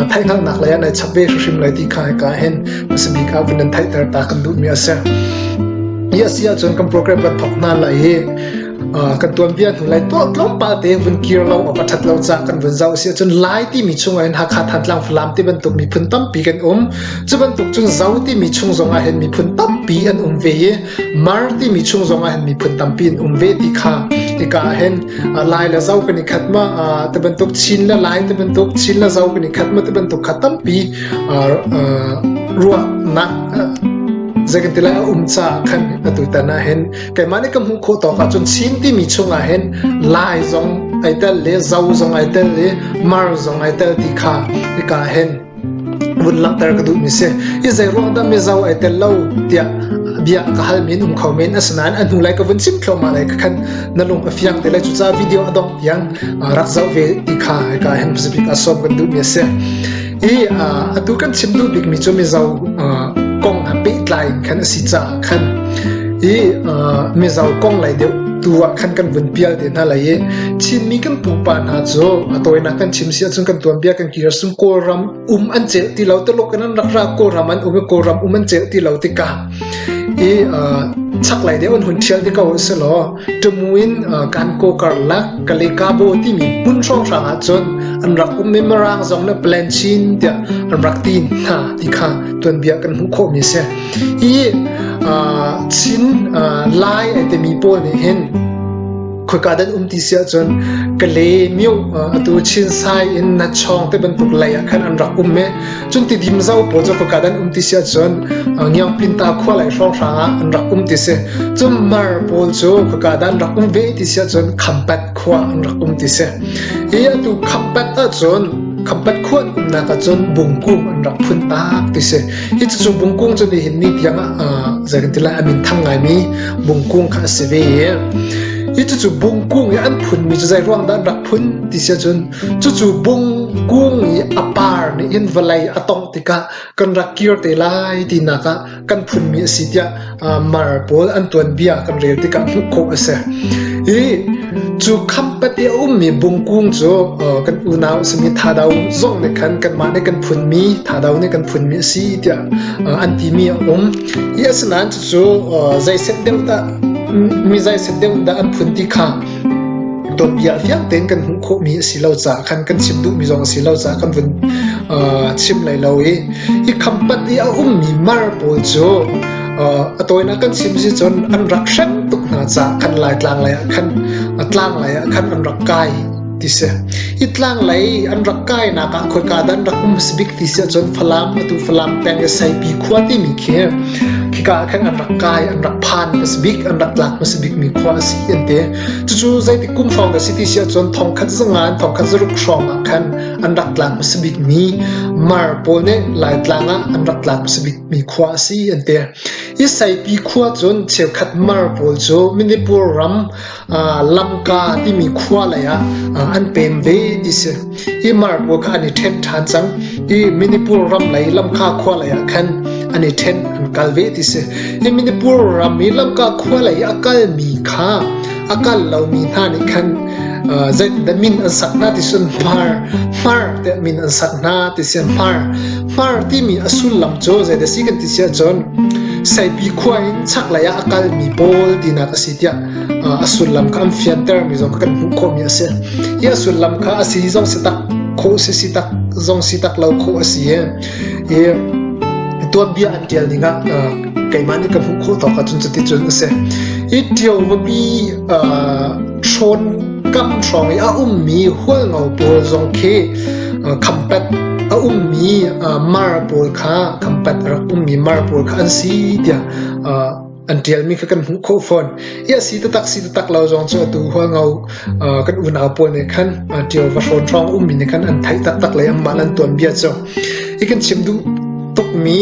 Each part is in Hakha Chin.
a theihhngalhnak lei an ai chap ve hrimhrim lai ti kha hika hin a si bik ah vun an theihter ta kan duhmi a si hi a si ahcun kan program kan thawk hna lai i kan tuanbia hnu lai to tlawmpal te vun kir lo a ṭhat lo ca kan vun zau si ahcun lai timi chung ahhin Hakha Thantlang Falam ti bantuk miphun tampi kan um cu bantuk cun zau timi chung zong ahhin miphun tampi an um ve i mar timi chung zong ahhin miphun tampi an um ve ti kha hika ahhin Lai le Zo kan i khat ma, ti bantuk Chin le Lai ti bantuk Chin le Zo kan i khat ma ti bantuk kha tampi ruahnak zei kan ti lai a um caah khan atu tan ah hin keimah nih ka hmuh khawh tawk ahcun Chin timi chungah hin Lai zong ai tel le Zo zong ai tel le Mar zong ai tel ti kha hika hin vun langhter ka duhmi si i zeiruang dah mizo ai tel lo tiah bia ka halmi in um kho men asinain a hnu lai ka vun chim thluahmah lai ka khan na lung a fiang te lai cuca video a dongh tiang rak zau ve ti kha ai ka hen pasabik a som kan duhmi a si i atu kan chim duh bikmi cu mizo kong a pehtlai khan a si caah khan i mizo kong lai deuh tu ah khan kan vun pial te hna lai i chinmi kan pupa hna cu a tawinak kan chim si ahcun kan tuanbia kan Tirsung Kawlram um an celh ti lo taluk in an rak ra Kawlram an um i Kawlram um an celh ti lo tikah i chaklei deuh an hun ṭhial ti ko si law ṭumu in kan ko karlak Kalikabo timi hmun hrawnghrang ahcun an rak um i Mirang zong le Plan Chin tiah an rak ti hna ti kha tuanbia kan hmuh khawhmi si. Hi Chin Lai timi pawl nih hin khoika dan um ti si ahcun kale mio atu chin sai in na chong te bantuk lei ah khan an rak um me cun ti dim zo pawl cu khoika dan um ti si ahcun ngiang pinta khua lai hrong hrang ah an rak um ti si cun mar pawl cu khoika dan rak um ve ti si ahcun khampat khua an rak um ti si hi atu khampat ahcun khampat khua um nak ahcun bungku an rak phun tak ti si Cucu bungkung cu nihin ni tiang ah zei kan ti lai a minthang ngaimi bungkung kha a si ve i cucu bungkung i an phunmi cu zei ruang dah an rak phun ti si ahcun cucu bungkung i a par nih hin vawlei a tongh tikah kan rak kir te lai tinak ah kan phunmi a si tiah mar pawl an tuanbia kan rel tikah hmuh khawh a si. I cu khampat i a ummi bungkung cu kan unau simi thadau zong nih khan kanmah nih kan phunmi thadau nih kan phunmi a si tiah an timi a um. I asinain cucu zei set deuh dah mi zai set deuh dah an phun ti kha dawpiah fiang tein kan hmuh khawhmi a si lo caah khan kan chim duhmi zong a si lo caah kan vun chim lai lo i hi khampat i a ummi mar pawl cu a tawinak kan chim si cun an rak hrem tuk hna caah khan laitlang lei ah khan tlang lei ah khan an rak kai ti si. Hi tlang lei an rak kainak ah khoika dah an rak um a si bik ti si ahcun Falam atu Falam peng i Saipi khua timi khi khika ah khan an rak kai, an rak phan a si bik, an rak tlak hmasa bikmi khua a si an ti. Cucu zeitik kum hrawng dah si ti si ahcun thongkhat zangan, thongkhat zaruk hrawng ah khan an rak tlak hmasa bikmi mar pawl nih Laitlang ah an rak tlak hmasa bikmi khua a si an ti. Hi Saipi khua cun cheukhat mar pawl cu Manipur ram Lamka timi khua lei ah an pem ve ti si. Hi mar pawl kha an i ṭhen ṭhan cang i Manipur ram lei Lamka khua lei ah khan an i ṭhen an kal ve ti si. Hi Manipur ram i Lamka khua lei a kalmi kha a kal lomi hna nih khan zeitdah min an sak hna ti cun hmar hmar tiah min an sak hna ti si hmar hmar timi a sullam cu zeidah si kan ti si ahcun saipi khua in chaklei ah a kalmi pawl tinak a si tiah a sullam kha an fiantermi zong kha kan hmuh khawhmi a si. Hi a sullam kha a si zong si tak, khawh si si tak, zong si tak lo khawh a si i, i tuanbia an tial ning ah uh, keimah nih ka hmuh khawh tawk ahcun cuticun a si. Hi tio vabi uh, thawn kam hrawng i a ummi hualngo pawl zong khi uh, khampat a ummi uh, mar pawl kha khampat a rak ummi mar pawl kha an si tiah uh, an ṭialmi kha kan hmuh khawh fawn i a si taktak si taktak lo zong cu atu hual ngo kan unau pawl nih khan ṭial va hrawn hrawng ummi nih khan an theih taktak le anmah an tuanbia cu i kan chim duh tukmi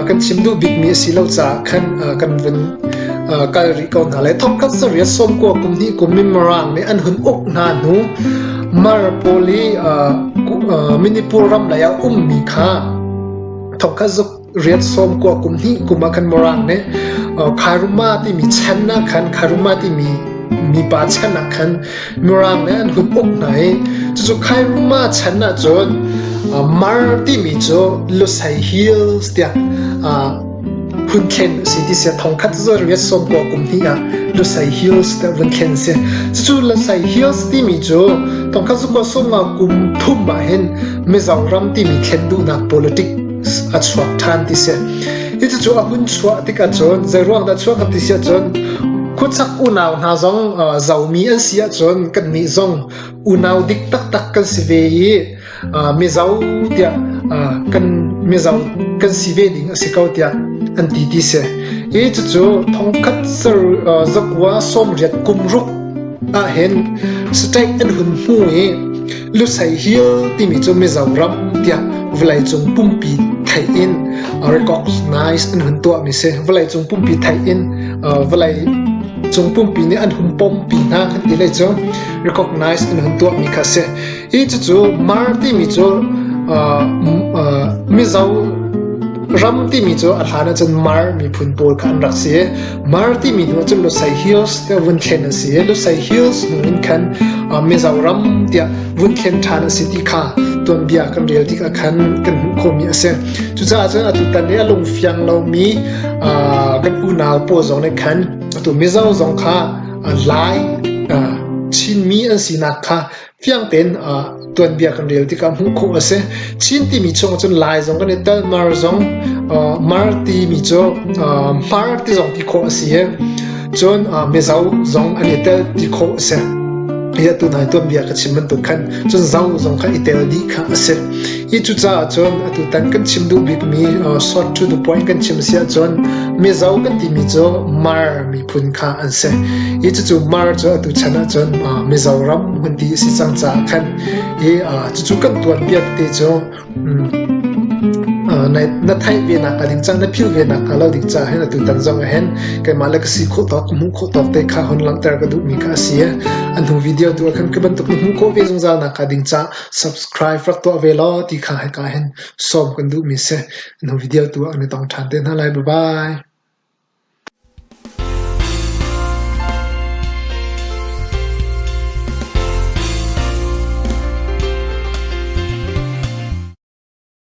kan chim duh bikmi a si lo caah khan kan vun kal rih ko hna le thongkhat saria sawmkua kum hnih kum in Mirang nih an hun uk hna hnu Maripoli Minipur ram lei ah ummi kha thongkhat zuk riat sawm kua kum hnih kum ah khan Morang nih Kharuma timi chan ah khan Kharuma timi mipa chan ah khan Morang nih an hun uk hna i cucu Kharuma chan ah cun Mar timi cu Lusei Hills tiah hun thlen si ti sia thong khat zo riat sawm kua kum hnih ah Lusei Hills te vun thlen si cucu Lusei Hills timi cu thong khat zu kua sawm nga kum thum ah hin Mizong ram timi thlen duhnak politic a chuak ṭhan ti si. Cucu a hun chuah tik ahcun zeiruang dah chuah kan ti si ahcun khuasak unau hna zong zomi an si ahcun kannih zong unau dik taktak kan si ve i mizo tiah kan mizo kan si ve ding a si ko tiah an ti ti si. I cucu thongkhat ser zakua sawmriat kum ruk ahhin state an hun hmu i Lusei Hill timi cu Mizoram tiah vawleicung pumpi theih in recognize an hun tuahmi si. Vawleicung pumpi theih in vawleicung pumpi nih an hun pawmpi hna kan ti le cu recognize an hun tuahmi kha si. Hi cucu Mar timi cu Mizo ram timi cu a hlan ahcun Mar miphun pawl kha an rak si i Mar timi hnu cun Lusei Hills ke vun thlen a si i Lusei Hills hnu in khan Mizoram tiah vun thlen ṭhan a si ti kha tuanbia kan rel tikah khan kan hmuh khomi a si. Cucaah cun atu tan i a lungfiang lomi kan unau pawl zong nih khan atu Mizo zong kha lai Chinmi an sinak kha Fiang tein tuanbia kan rel tikah hmuh khawh a si. Chin timi chung ahcun Lai zong kan i tel, Mar zong, Mar timi cu Mar ti zong ti khawh a si i, cun Mizo zong an i tel ti khawh a si. Hi atu hna i tuanbia ka chim bantuk khan cun Zo zong kha i tel dih kha a si. Hi cu caah cun atutan kan chim duh bikmi uh, short to the point kan chim a si ahcun Mizo kan timi cu Mar miphun kha an si. Hi cucu Mar cu atu chan ahcun uh, Mizoram hmun ti a si cang caah khan hi uh, cucu kan tuanpiak te cu um, uh, na, na theih ve nak ka ding cang na phil ve nak ka lo ding caah hin atu tan zong ah hin keimah le ka si khawh tawk hmuh khawh tawk te kha hon langhter ka duh mi kha a si an hnu video tu ah khan ka bantuk na hmuh khawh ve zungzal nak ka ding caah Subscribe rak tuah ve law ti kha hika hin sawm kan duhmi si. Nu video tu ah kan i tong ṭhan te hna lai. Bye-bye.